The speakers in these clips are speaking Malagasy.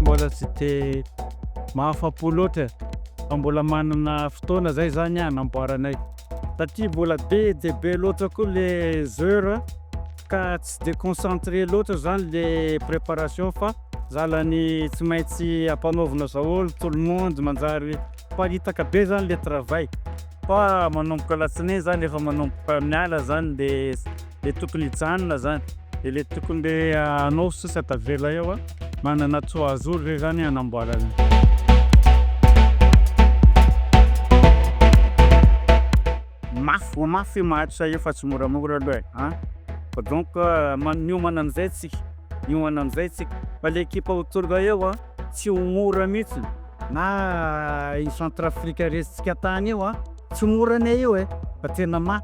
Mbola tsy dia mahafapo loatra fa mbola manana fotoana zay zany hanamboaranay satria mbola be dia be loatra koa le heures ka tsy dia concentré loatra zany le préparation fa zalany tsy maintsy ampanaovina daholo tout le monde manjary miparitaka be zany le travail. fa manomboka alatsinainy zany efa manomboka miala zany le le tokony hijanona zany de le tokony le anao sisa tavela eo a manana trois jours zay zany hanamboarana. Mafy vao mafy io maharitra io fa tsy moramora aloha e an! Fa donc miomana amizay tsika miomana amizay tsika fa le ekipa ho tonga eo an tsy ho mora mihitsy. Na i Centrafrique resintsika tany io an! Tsy mora ne io e! Fa tena ma.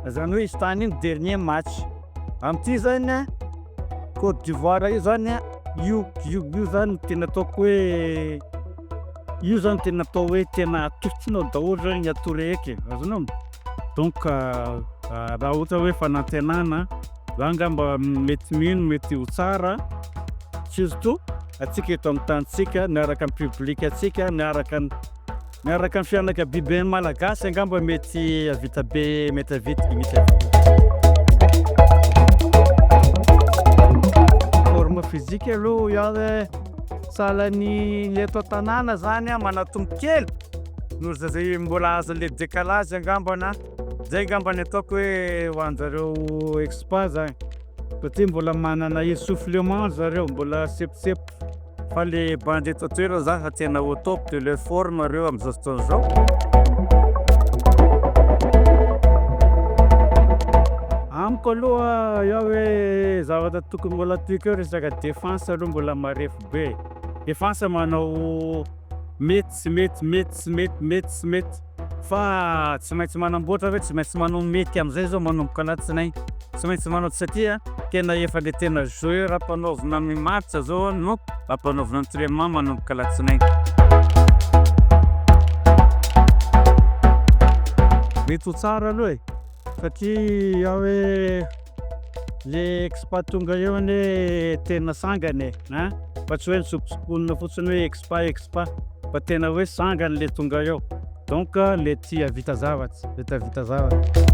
Zany hoe izy tany ny dernier match amin'ity zany an! Côte d'Ivoire io zany an! Io io io zany no tena ataoko hoe io zany tena atao hoe tena atosonao daholo zany ny atout rehetra e! Azonao? Donc raha ohatra hoe fanantenana. Za angamba mety mino mety ho tsara surtout atsika eto amin'ny tanintsika miaraka amin'ny public antsika miaraka miaraka amin'ny fianakabiben'ny malagasy angamba mety avita be mety avita mety avita forme physique aloha ianle sahalan'ny le eto an-tanàna zany manatombo kely noho zay mbola azon'le décalage angambana Zay ngamba ny ataoko hoe ho anjareo expat zany satria mbola manana essoufflement zareo mbola sempotsempotra fa le bandy eto an-toerana zany efa tena au top de leur forme reo am'zao fotoana zao. Amiko aloha eo hoe zavatra tokony mbola toiko eo resaka defense aloha mbola marefo be. Defense manao mety tsy mety, mety tsy mety, mety tsy mety. Fa tsy maintsy manamboatra ve? Tsy maintsy manao mety amin'izay izao manomboka alatsinainy? Tsy maintsy manao satria tena efa le tena joueur ampanaovina ny match izao no ampanaovina entrainement manomboka alatsinainy. Mety ho tsara aloha e, satria aho hoe. Le expat tonga eo anie tena sangany e a! Fa tsy hoe nitsokotsokona fotsiny hoe expat expat fa tena hoe sangany le tonga eo donc le tia havita zavatra le tia havita zavatra.